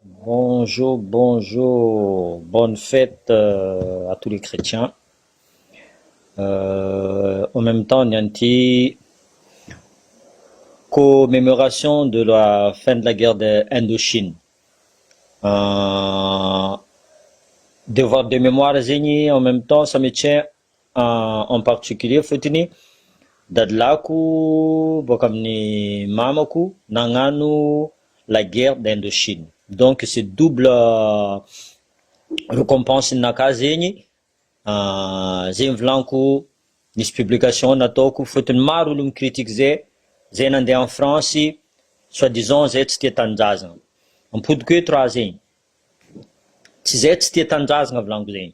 Bonjour bonjour bonne fête à tous les chrétiens en meme temps ny an'ity commemoration de la fin de la guerre de Indochine devoir de mémoire zegny en meme temps ça me tient en particulier fotony dadilahiko boaka amin'ny mamako nagnano la guerre d'Indochine donc c'est double recompense ninakà zegny zegny volaniko nisy publication nataoko fotony maro olo mi-critique zay, zay nandeha en France soit disant zay tsy tia tanindrazagna, ampodiko eto raha zegny, tsy zay tsy tia tanindrazagna volaniko zegny.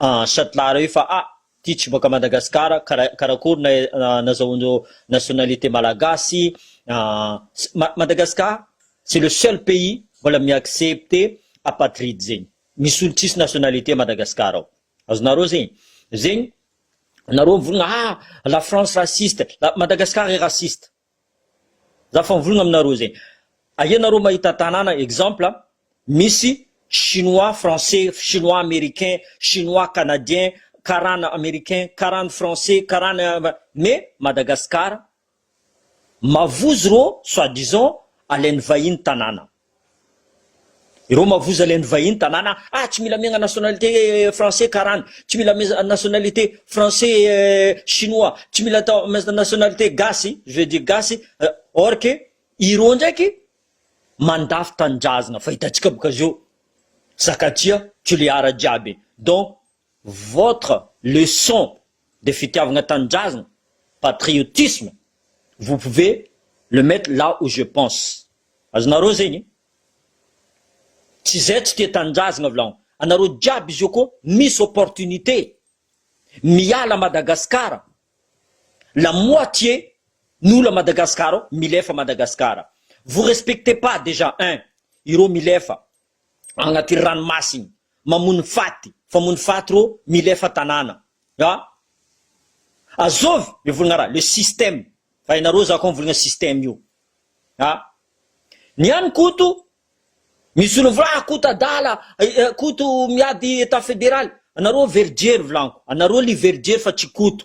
Ah, Shatlara io fa ah, ty tsy boaka Madagascar, kara karakory na nazahoan nationalité malagasy, ah, Madagascar c'est le seul pays mbola mi accepter apatride zegny, misy olo tsisy nationalité a Madagascar ao, azonareo zegny, zegny nareo mivolagna ah, la France raciste, Madagascar est raciste. Za fa mivolagna aminareo zegny. Aia nareo mahita tanàna exemple misy chinois français, chinois americain, chinois canadien, karana americain, karana français, karana mais Madagascar mavozo rô soit disant alain'ny vahiny tanàna. Ireo mavoza ilay ny vahiny tanàna ah tsy mila miagna nationalité français karana, tsy mila miagna nationalité français chinois, tsy mila atao miagna nationalité gasy, je veux dire gasy, or que ireo ndraiky mandafy tanindrazagna fa hitantsika boka zao zaka aty ah tulear jiaby donc votre leçon de fitiavagna tanindrazagna, patriotisme, vous pouvez le mettre là où je pense, azonareo zegny? tsy zay tsy tia tanindrazagna v'là, anareo jiaby izy io kô misy opportunité miala à Madagascar, la moitié n'olo à Madagascar ao milefa Madagascar, vous respectez pas déjà un ireo milefa, agnaty ranomasiny mamono faty famono faty rô milefa tanàna a azovy le volagna raha le système fa enareo za koa mivolagna système io a ny any koto misy olo mivola ah koto adala koto miady etat federaly anareo very jery volaniko anareo li very jery fa tsy koto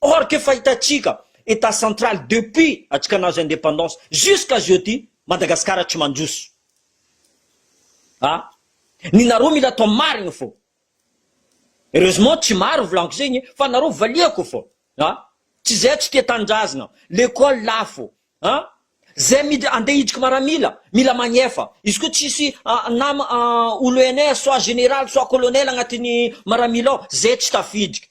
Or que efa hitantsika Etat central depuis antsika nahazo independance jusqu'à jeudi Madagascar tsy mandroso a! Ny nareo mila atao marigny fô. Heureusement tsy maro volanko zegny e! Fa nareo valiako fô a! Tsy zay tsy tia tanindrazagna, l'école lafo a! Zay mid ande hidriky maramila mila magnefa, izy koa tsisy a nama a olo ENS soit général soit colonel agnatin'ny maramila ao zay tsy tafidriky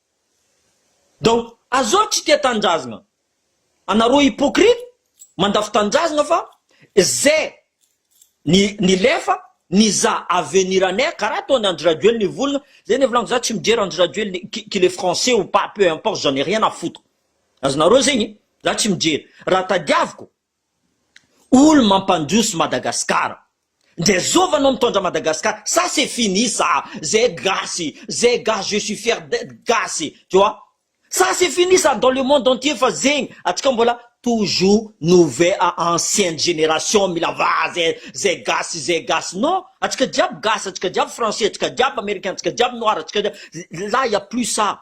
Dao azao tsy tia tanindrazgna anareo hypocrite mandafo tanindrazgna fa ze ny nilefa nizaha avenir anay karaha ataony Andry Rajoelina hivolgna ze ny volagny za tsy mijery Andry Rajoelina qu'il est français ou pas peu importe j'en ai rien à foutre azy nareo zegny za tsy mijery raha tadiaviko Olo mampandroso Madagascar. Ndre zova no mitondra Madagascar ça c'est fini ça ze gasy ze gasy je suis fier d'etre gasy tu vois ça c'est fini ça dans le monde entier fa zegny atsika mbola toujours nouvel a ancienne generation mila vaha ze ze gasy ze gasy non atsika jiaby gasy atsika jiaby français atsika jiaby americain atsika jiaby noir atsika jiaby là il ya plus ça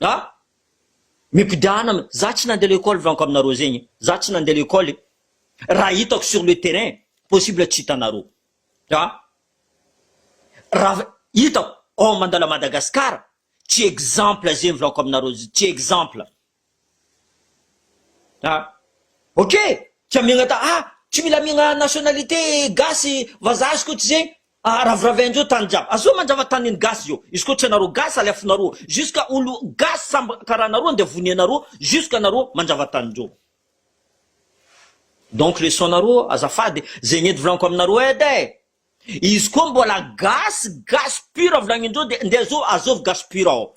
A, mikodana, za tsy nande lekôly vanko aminareo zegny, za tsy nande lekôly, raha hitako sur le terrain possible tsy hitanareo, a, raha hitako, oh mandalo à Madagascar, tsy exemple zegny volako aminareo, tsy exemple. A! ok tia miaigna ta a! tsy mila miaigna nationalité gasy vazaha izy koa tsy zegny a! raviravin-dreo tany jiaby azao mandrava tanin'ny gasy zao izy koa tsy anareo gasy aleafinareo ao jusqu'à olo gasy samby karaha anareo andeha vonianareo jusqu'à anareo mandrava tanin-dreo donc leçon-nareo azafady zegny edy volaniko aminareo edy e! izy koa mbola gasy gasy pure volagnin-dreo de ndeha zao azovy gasy pure ao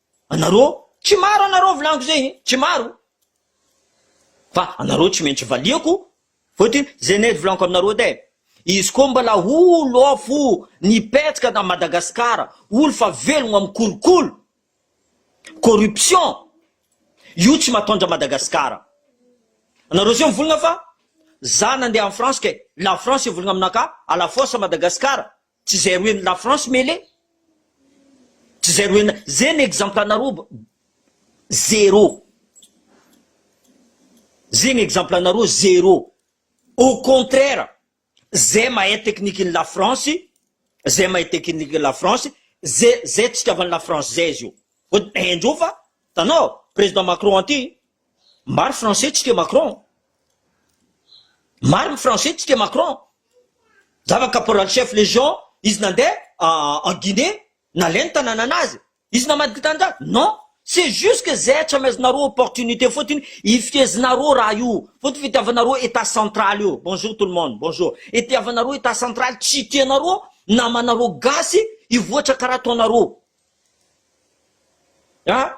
Anareo tsy maro anareo volaniko zay e, tsy maro fa anareo tsy maintsy valiako fotony zay nety volaniko aminareo edy e, izy koa mbola olo ao fo nipetaka tany Madagascar olo fa velogno amin'ny kolikoly, corruption, io tsy matondra Madagascar, anareo zay mivolagna fa za nandeha en France kay, la France hivolagna aminakahy à la force Madagascar, Tsy zay roe ny la France mele Tsy zay roe na Zay ny exemple anareo ba Zero Zay ny exemple anareo zero Au contraire Zay mahay technique ny la France Zay mahay technique ny la France Zay zay tsika avy any la France zay zio Vao di haindreo fa Tanao Président Macron anty Maro français tsika Macron. Maro ny français tsika Macron. Zava caporal chef légion izy nandeha en Guinée nalainy ny tanananazy. Izy namadika ny tananjaza? Non. C'est juste que zay hatraminazonareo opportunité fotiny hifezinareo raha io. Fotiny fitiavanareo etat central io. Bonjour tout le monde. Bonjour. Itiavanareo etat central tsy tianareo namanareo gasy hivoatra karaha ataonareo. Ah,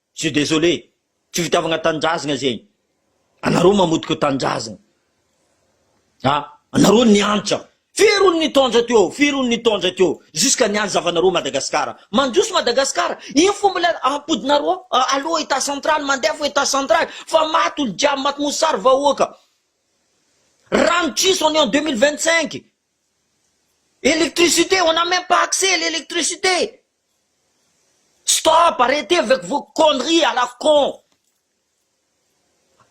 Je suis désolé, tsy fitiavagna tanindrazagna zegny, anareo mamotika tanindrazagna a, anareo niantra, firy olo nitondra teo, firy olo nitondra teo, jusqu'à niany zavanareo Madagascar, mandroso Madagascar, ino fo mbola ampodinareo, aleo etat central, mandeha fo etat central, fa maty olo jiaby, maty mosary vahoaka, rano tsisy on est en deux mille vingt cinq, électricité, on a même pas accès à l'électricité, Stop arretez avec vos conneries à la con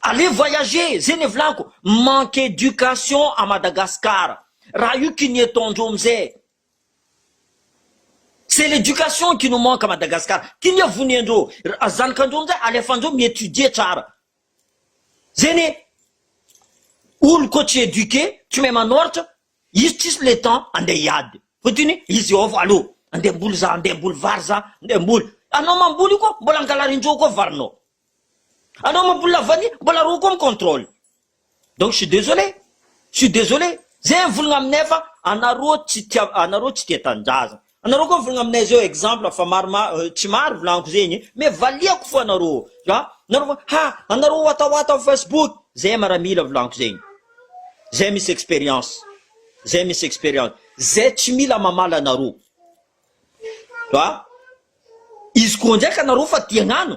allez voyager zay ne volaniko manque education à Madagascar raha io qui n'y etant ndreo amzay c'est l'éducation qui nous manque à Madagascar ty ne vonia ndreo zanaky ndreo amzay alefa ndreo mi étudier tsara zay ne oloko tsy eduquer tsy mahay manoratra Izy tsisy le temps andeha hiady fa toy ny i Jehovah aloha andeha hamboly za andeha hamboly vary za andeha hamboly anao mamboly io koa mbola angalarin-dreo koa varinao anao mamboly la vanille mbola reo koa mi-contrôle donc je suis désolé je suis désolé ze volagna aminay fa anareo tsy tia anareo tsy tia tanindrazana Anareo koa mivolagna aminay zao exemple fa maromaro tsy maro volagniko zegny mais valiako fô anareo a nareo fa ha anareo watawata am facebook zay maramila volagniko zegny zay misy experience zay misy experience zay tsy mila mamala anareo a izy koa ndraiky anareo fa te hagnano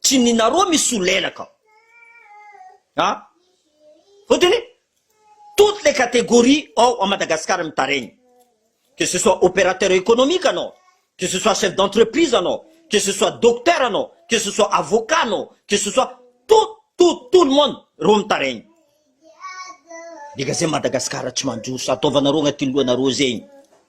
Tsy ny nareo misolelaka ao. Ha? Fotony, toutes les catégories ao à Madagascar mitaregny. Que ce soit opérateur économique anao, que ce soit chef d'entreprise anao, que ce soit docteur anao, que ce soit avocat anao, que ce soit tout, tout, tout le monde reo mitaregny. Dika zay Madagascar tsy mandroso, ataovanareo agnatin'ny lohanareo zegny.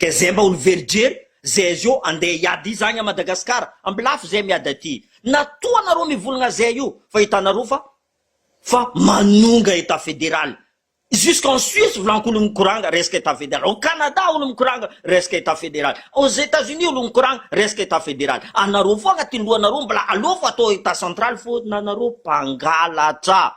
Ka zay mba olomverijery zay zio andeha hiady iza agny à Madagascar ambilafy zay miady aty na toa anareo mivolagna zay io fa hitanareo fa fa manonga état fédéral jusque en Suisse volanko olo mikoranga resaka état fédéral au Canada olo mikoranga resaka état fédéral aux Etats Unis olo mikoranga resaka état fédéral anareo fô agnatin'ny lohanareo mbola aleo fa atao état central fô nareo mpangalatra.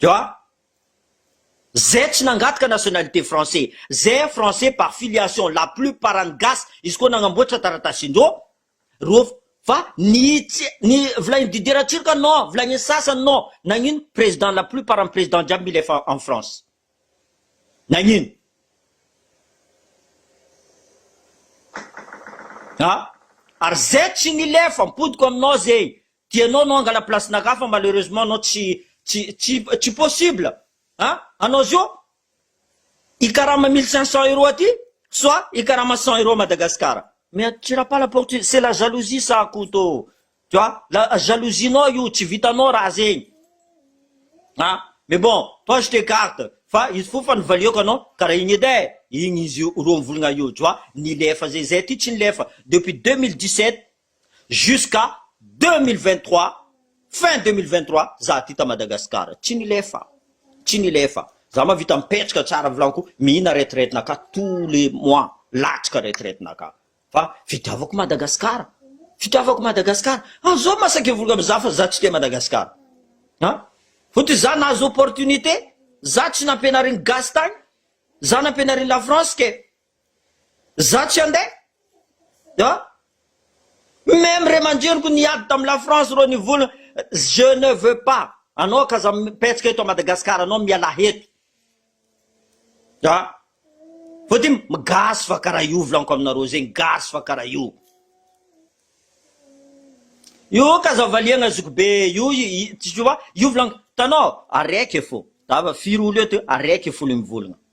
Dia zay tsy nangataka nationalité français, zay français par filiation, la plus part any gasy, izy koa nagnamboatra taratasin-dro, ro, fa ny tsy, ny volain'i Didier Ratsiroka non, volain'ny sasany non, nagnino président, la plus part any président jiaby mila efa en France, nagnino? A, ary zay tsy nilefa, ampodiko aminao zay, Dia ianao no hangala place n'a Rafa malheureusement ianao tsy tsy tsy tsy possible a! Anao zio hikarama mille cinq cents euros aty soit hikarama cent euros à Madagascar. Mais tsy rapala porte io, c'est la jalousie ça Koto tu vois, la jalousie nao io, tsy vitanao raha zegny a! Mais bon toi je t'ecarte fa izy fo fa nivaliako anao karaha igny edy e! Igny izy roa mivolagna io tu vois, nilefa zay, zay aty tsy nilefa depuis deux mille dix sept jusqu'à deux mille vingt trois fin deux mille vingt trois za ty ta Madagascar tsy nilefa tsy nilefa za mavita mipetraka tsara vilaniko mihina retraite naka tous les mois latsaka retraite naka fa fitiavako Madagascar fitiavako Madagascar ah zao masaky hivory am za fa za tsy te Madagascar ah fotony za nahazo opportunité za tsy nampianarin gasy tagny za nampianarin la France ke Za tsy ande a! Meme re mandrinoko niady tam la France ro nivola je ne veux pas anao ka za mipetsaka eto à Madagascar anao mialà eto a! Vao ty gasy fa kara io volaniko aminareo zegny gasy fa kara io. Io ka za valiagna zokibe io tu vois io volaniko hitanao araiky fô za fa firy olo eto araiky folo mivolagna.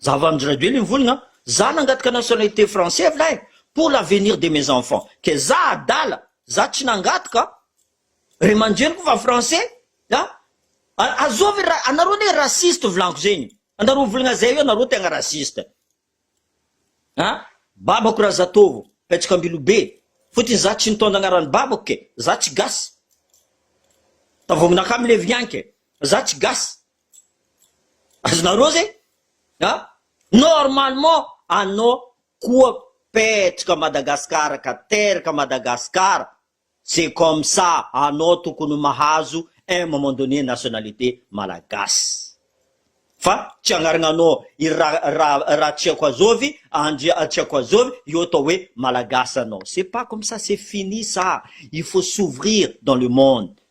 Zava amin-dry Rajoely ny volona an! Za nangataka nationalité français avy lahy pour l'avenir de mes enfants kay za adala za tsy nangataka ry aman-dreniko fa français a! Azovy ry ra, anareo anie raciste volànko zegny anareo volagna zay io anareo tegna raciste a! Babako Razatovo Petsaka Ambilobe fotony za tsy nitondra agnaran'ny babako kay za tsy gasy tavogninakà milevignagny kay za tsy gasy Azonareo zay a! Normalement anao koa petraka Madagascar ka teraka Madagascar, c'est comme ça anao tokony mahazo un moment donné nationalité Malagasy. Fa tsy agnarignanao i ra ra Ratsiakoazovy Andry Atsiakoazovy io atao hoe Malagasy anao. C'est pas comme ça, c'est fini ça, il faut s'ouvrir dans le monde.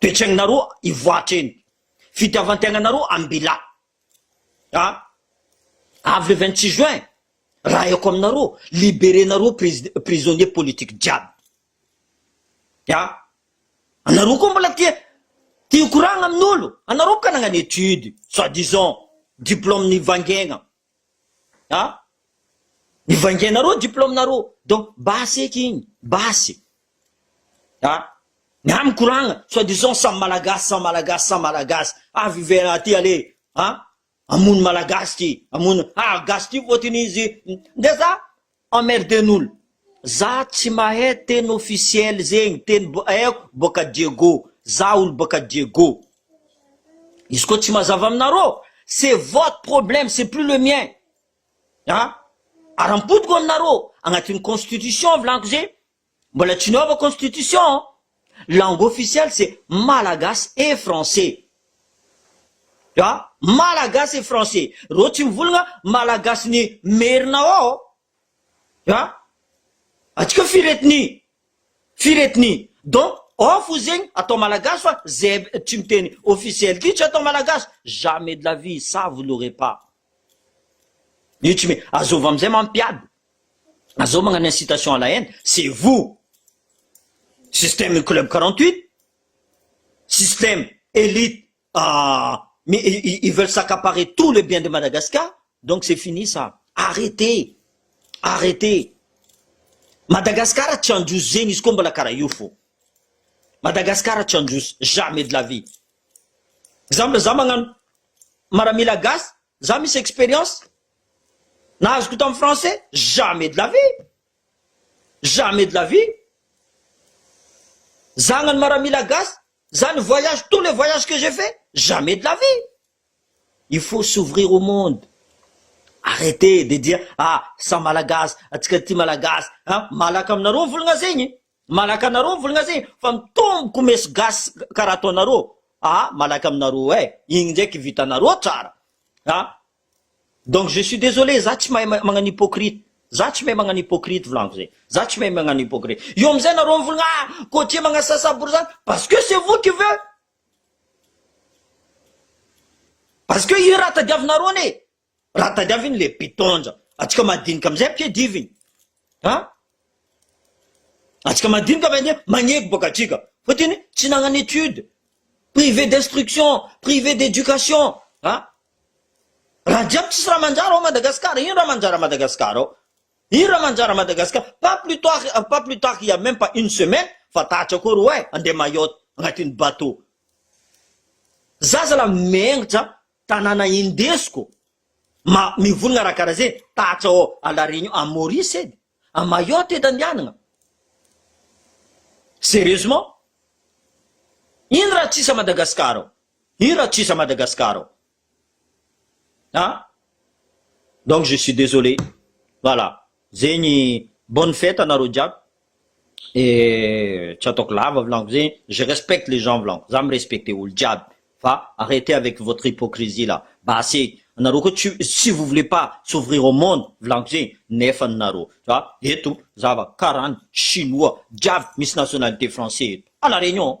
Toe-tsainanareo hivoatra eny. Fitiavan-tegnanareo am-bila. A! Avy le vingt six juin, raha haiko aminareo, liberenareo prési, prisonniers politiques jiaby. A! Anareo koa mbola te, te hikoragna amin'olo. Anareo bôka nagnano études, soit disant, diplôme nivangiagna. Ah! Mivaingainareo diplômenareo donc basy eky igny, basy. Ah! Ny amiko ranga soit disant samy malagasy, samy malagasy, samy malagasy. Avy ivelany aty ale ah! Hamono malagasy ty, hamono ah! Gasy ty voatiny izy, ndeha za Emmerden'olo. Za tsy mahay teny officiel zegny, teny mbo aiko boka Diego, za olo boka Diego. Izy koa tsy mazava aminarô, c'est votre problème, c'est plus le mien. An! Ara-poko aminarô, agnatin'ny constitution volaniko ze, Mbola tsy niova constitution an! Langue officielle c'est malagasy et français. A! Malagasy et français. Reo tsy mivolagna malagasy ny merina ao ao. A! Atsika firetiny. Firetiny. Donc ao fo zegny atao malagasy fa zay tsy miteny officiel ty tsy atao malagasy. Jamais de la vie ça vous l'aurez pas. Io tsy me-. Azôva amizay mampiady. Zao magnano incitation à la haine, c'est vous! Système ny club quarante huit, système elite ils veulent s'accaparer tout le bien de Madagascar, donc c'est fini ça! Arretez! Arretez! Madagascar tsy handroso zegny izy koa mbola karaha io fô! Madagascar tsy handroso jamais de la vie! Exemple za magnano maramila gasy Za misy experience na azoko tam français jamais de la vie jamais de la vie zagnany maramila gasy za ny voyage tout le voyage que j'ai fait jamais de la vie il faut s'ouvrir au monde arrete de dire ah sa malagasy atsika ty malagasy an malaka aminareo ny volagna zegny Malaky anareo volgna zay fa mitombo comesy gasy karaha ataonareo ah malaky aminareo eh igny ndraiky vitanareo tsara ah donc je suis désolé za tsy mahay magnano hypocrite za tsy mahay magnano hypocrite volagno zay za tsy mahay magnano hypocrite eo amizay nareo mivolgna ah cotier magnasasa borizano parce que c'est vous qui veut parce que io raha tadiavinareo anie Raha tadiaviny le btondra atsika madinika amizay ampiadiviny a! Atsika madinika avy anie magneky boka atsika fa tiny tsy nagnano étude, privé d'instruction, privé d'éducation a! Raha jiaby tsisy raha manjary ao Madagascar ino raha manjary à Madagascar ao? Ino raha manjary à Madagascar? Pas plus tard pas plus tard il ya même pas une semaine fa tatra koa roahy andeha Mayotte agnatiny bateau zaza la mengitra Tanàna indesiko ma mivonona raha karaha zay tahatra ao à la Réunion, à Maurice edy, à Mayotte edy andianagna. Sérieusement? Ino raha tsisy à Madagascar ao? Ino raha tsisy à Madagascar ao? An? Donc je suis désolé. Voilà. Zegny bonne fête anareo jiaby et tsy ataoko lava volagno zegny je respecte les gens volagno za mi respecte olo jiaby fa arrete avec votre hypocrisie là basy e anareo koa tsy si vous voulez pas s'ouvrir au monde volagno zegny nefa nareo fa eto zava karany chinois jiaby misy nationalité français eto à la réunion.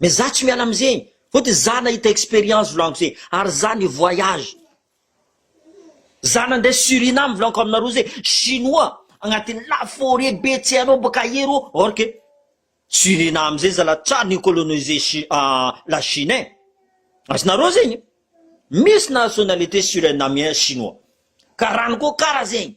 Mais za tsy miala amzegny fotony za nahita experience volagnoka ze ary za ni voyage za nande suriname volaniko aminareo ze chinois agnatiny la foret be tsy hainao boka aia reo or que suriname zay zala tra ni colonise chi la chine ein azonareo zegny misy nationalite surinamien chinois karany koa kara zegny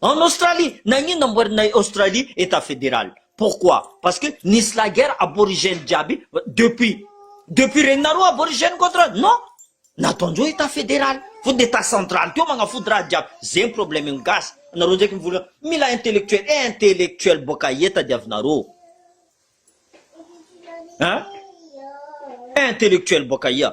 En Australie, nagnino namboarina i Australie Etat Federal? Pourquoi? Parce que nisy la guerre aborigène jiaby depuis depuis regninareo aborigène contre non! Nataondreo Etat Federal fony de Etat Central teo magnafody raha jiaby zay ny problème ny gasy anareo ndraiky mivola mila intellectuel eh intellectuel boaka aia tadiavinareo hein eh intellectuel boaka aia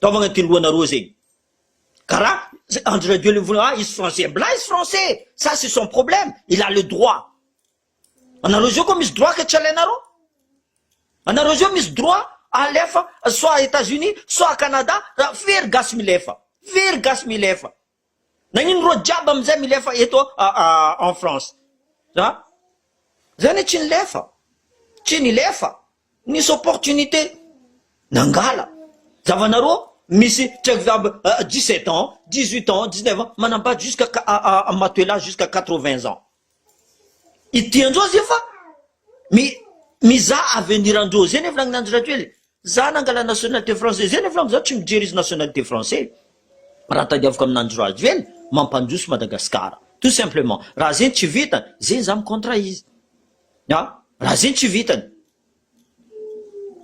Taovagna ty lohanareo zegny. Kara Andry Rajoelina mivola ah izy français mbla izy français ça c'est son problème il a le droit. Anareo zao ko misy droit ka tsy alainareo. Anareo zao misy droit alefa soit Etats Unis soit Canada ra very gasy milefa. Very gasy milefa. Nagnino reo jiaby amizay milefa eto en France a? Za ne tsy nilefa, tsy nilefa, nisy opportunité nangala, zavanareo misy tsy haiko jiaby dix sept ans, dix huit ans, dix neuf ans manambady jusqu'à matoa elahy jusqu'à quatre vingt ans, I Dian-dRoa zay fa mi- mizaha avenir an-dRoa zay nefa nagnanjy Rajoely e! Za nangala nationalité français zay nefa za tsy mijery izy nationalité français raha tadiaviko aminanjy Rajoely mampandroso Madagascar tout simplement raha zegny tsy vitany zegny za mi-contre izy a! raha zegny tsy vitany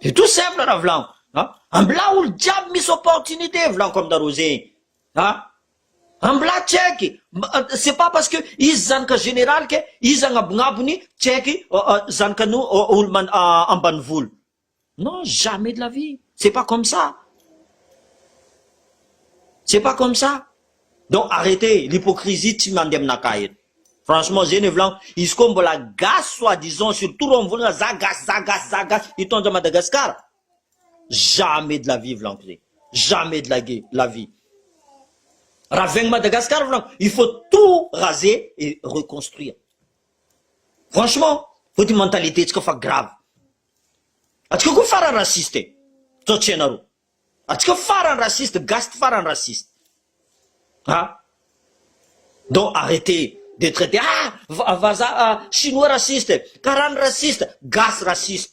c'est tout simple raha volagno a! ambilà olo jiaby misy opportunité volagno ko aminareo zegny A! Ambola check! C'est pas parce que izy zanaka général que izy agnabognabogne check zanakany olo ambanivolo. Non, jamais de la vie! C'est pas comme ça! C'est pas comme ça! Donc arrêtez! L'hypocrisie tsy mandeha aminakahy eto. Franchement zay no hevilaniko, izy koa mbola gasy soit disant surtout reo mivolagna za gasy, za gasy, za gasy, hitondra Madagascar? jamais de la vie volagno zay jamais de la ge la vie raha veng Madagascar volagno il faut tout raze et reconstruire franchement fa ty mentalité tsika fa grave atsika koa farany raciste e zao tsy hainareo atsika farany raciste gasy ty farany raciste ha donc arrêtez de traiter ah va- vazaha ah, chinois raciste karany raciste gasy raciste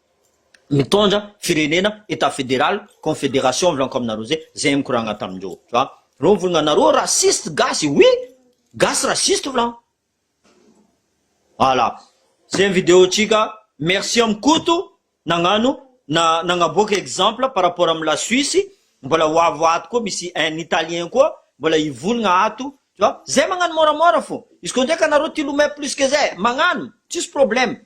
mitondra firenena etat federal confederation blanco amina rose zay mikoragna tamindreo tu vois reo mivolagna nareo raciste gasy oui gasy raciste volagna voilà zay ny video tsika merci am koto nagnano na nagnaboaka exemple par rapport am la suisse mbola ho avy ato koa misy un italien koa mbola hivolagna ato tu vois zay magnano moramora fô izy koa ndraika nareo te hilomay plus que zay magnano tsisy problème